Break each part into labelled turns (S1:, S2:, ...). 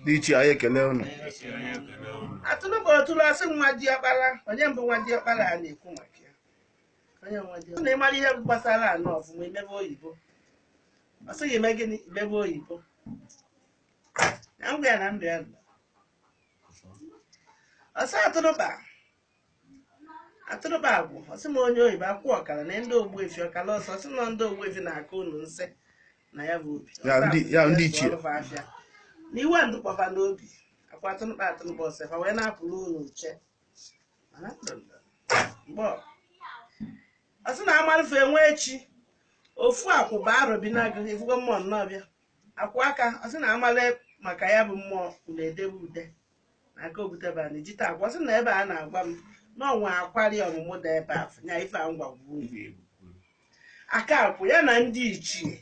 S1: ndị ichie anyị ekele unu atụrụkpa otulu ọ sị nwa diọkpara onye mbụ nwa diọkpara a na-ekwu maka ya onye nwa diọkpara na ịmara ihe gbasara anọ ọfụma imebe oyibo ọ sị gị mee gịnị imebe oyibo na ngwa ya na ndụ ya nọ. ose atụrụkpa atụrụkpa akwụ ọ sị m onye oyibo akwụ ọkara na ndị ogbuefi ọkara ose ọ sị na ndị ogbuefi na-aka unu nsị na ya bụ obi Ya ndị- ya ndị ichie. Ọlụfa afịa. na iwe ndụkwafa n'obi aka atụrụkpa atụrụkpa ọ sị fa wee na-apụrụ unu uche Mana ndụndụ, mgbe ọ- ọ sị na a malụ ife enwe echi ofu akwụ bụ arọ bi n'agụ efugo mmụọ nnọọ bịa akwụ aka ọ sị na amala maka ya bụ mmụọ unu edebe ude na aka obutebe anyị jite akwa sị na ebe a na-agwa m na ọnwa akwari ọmụmụ da ebe afọ nya ife a ngwa gwuo ugwu egwu aka akwụ ya na ndị ichie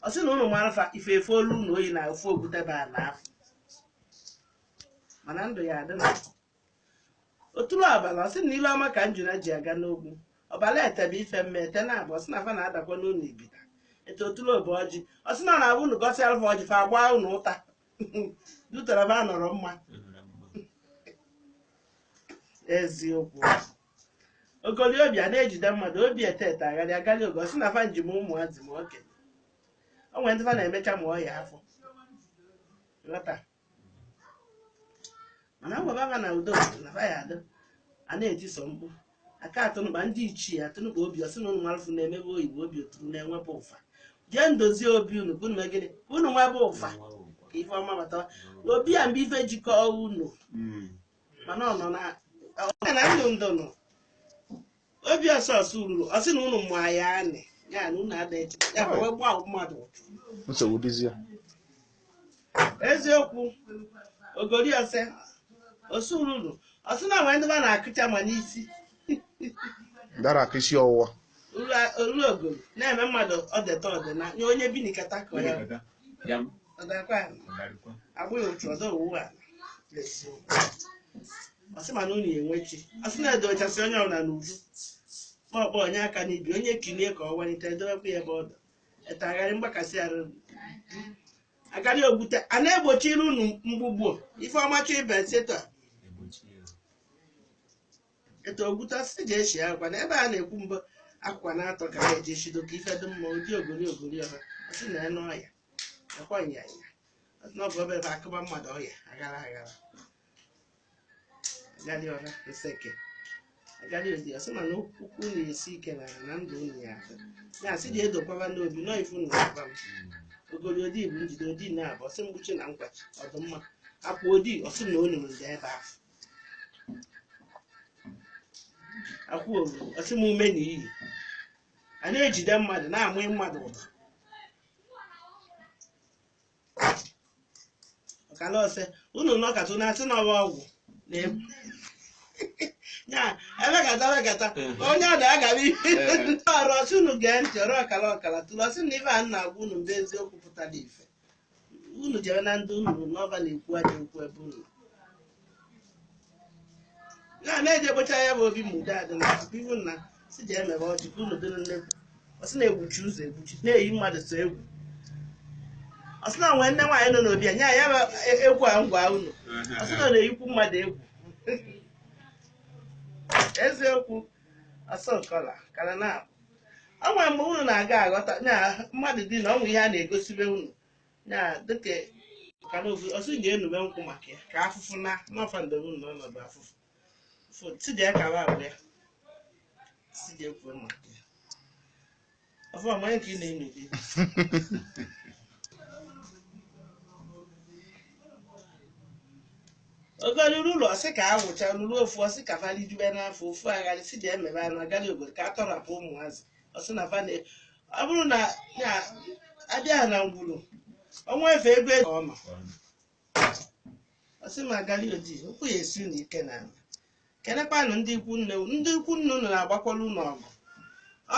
S1: ọ sị na unu mara fa ife efe olu na oyi na ofe obutebe a na afọ mana ndụ ya adị na otulu abalị ọ sị na ilu ọma ka njuna ji aga n'ogwu ọbala ete ebe ife mme ete na abụ ọ sị na fa na-adakwa n'ụlọ ibita ete otulu obe ọjị ọ sị na ọ na-abụ unu gọsịalụ fa ọjị fa gbaa unu ụta dutara fa nọrọ mma eziokwu ogoli obi a na-ejide mmadụ obi ete ete agarị agarị oge ọ sị na fa njem ụmụazị ma okenye o nwere ndị fa na-emecha ma ọya afọ ghọta mana ngwa baba na udo na fa ya adị a na-etiso mkpu aka atụrụkpa ndị ichie atụrụkpa obi ọ sị na unu malụfụ na-emebe oyibo obi oturu na-enwebe ụfa jee ndozie obi unu ka unu mee gịnị ka unu nwebe ụfa ka ife ọma batawa obi a mgbe ife jikọọ unu Mm. mana ọ nọ na ọ nọ na ndụ ndụ nọ obi ose ose ururu ọ sị na unu mụ ya anị ya na unu ada eche ya bụ wee gbaa mmadụ ụchụ nsogbu dịzie eziokwu ogori ose ose ururu ọ sị na nwee ndị fa na-akụcha ma n'isi dara aka isi ọwụwa olu ogori na-eme mmadụ ọdeta ọdịna nye onye bi n'ikata ka ọ ya ọdakwa ya agbụghị otu ọdọ owu a ọ sị ma na unu enwechi ọ sị na-edochasị onye ọbụla n'uju ma ọkpọ onye aka n'ibi onye kilie ka ọ walite edowekwa ya ebe ọ dọ ete agarị mgbakasị arụ agarị ogbute a na-egbochiri unu mgbugbo ife ọma chọ ibe seta etu ogbute si ji eshi akwa na ebe a na-ekwu mbụ akwa na-atọ ka ha eji eshido ka ife dị mma ụdị ogori ogori ọha si na enu ọya akwa nyanya n'ọbụ ebe ebe akụba mmadụ ọya aghara aghara agali ọra nseke agali odi ọ sị mana okwu unu esi ike na na ndụ unu ya atọ ya asị dị edokwaba n'obi nọ ifu na ụba m ogori odi bụ njide odi na-abụ ọ sị mgbuchi na nkwachi ọdụmma akwụ odi ọ sị na olu m ndị ebe ahụ akwa olu ọ sị m ume na iyi a na-ejide mmadụ na-amụ mmadụ ụtọ ọkala ose unu nọkata unu asị na ọ wụ ọgwụ na-egbu ya emekata emekata onye ọ na-agabi ọrụ ọ sị unu gee ntị ọra ọkala ọkala otule ọ sị na ife a na-agwa unu mgbe eziokwu pụtara ife unu jere na ndị unu na fa na-ekwu ajọ okwu ebe unu na na-eje gbocha ya bụ obi ma ude adị na tupu ihu nna si ji emebe ọjị ka unu dịrị nnekwu ọ sị na-egbuchi ụzọ egbuchi na-eyi mmadụ sọ egwu ọ sị na o nwee nne nwaanyị nọ n'obi ya nye ya bụ e- egwu a na-agwa unu ọ sị na ọ na-eyikwu mmadụ egwu eziokwu ọ sị ọkala kara na ọ nwere mgbe unu na-aga aghọta na mmadụ dị na ọ nwere ihe a na-egosibe unu ya dịka ka na ofu ọ sị ga-enube nkwụ maka ya ka afụfụ na n'ọfa ndebe na ọnọdụ afụfụ fụ tidi ya kara abụ ya si ga-ekwu maka ya ọfụ amanye ka ị na-eme gị ogoli ululu ọ sị ka a wụcha ululu ofu ọ sị ka validube n'afọ ofu agali si dị emebe anụ agali obodo ka a tọrapụ ụmụazị ọ sị na fane ọ bụrụ na ya abịa na ngwuru o nwee ife ego ego ọ nọ ọ sị m agali odi okwu ya esi unu ike na ala kenekwanụ ndị ikwu nne unu. ndị ikwu nne unu na-agbakwara unu ọgụ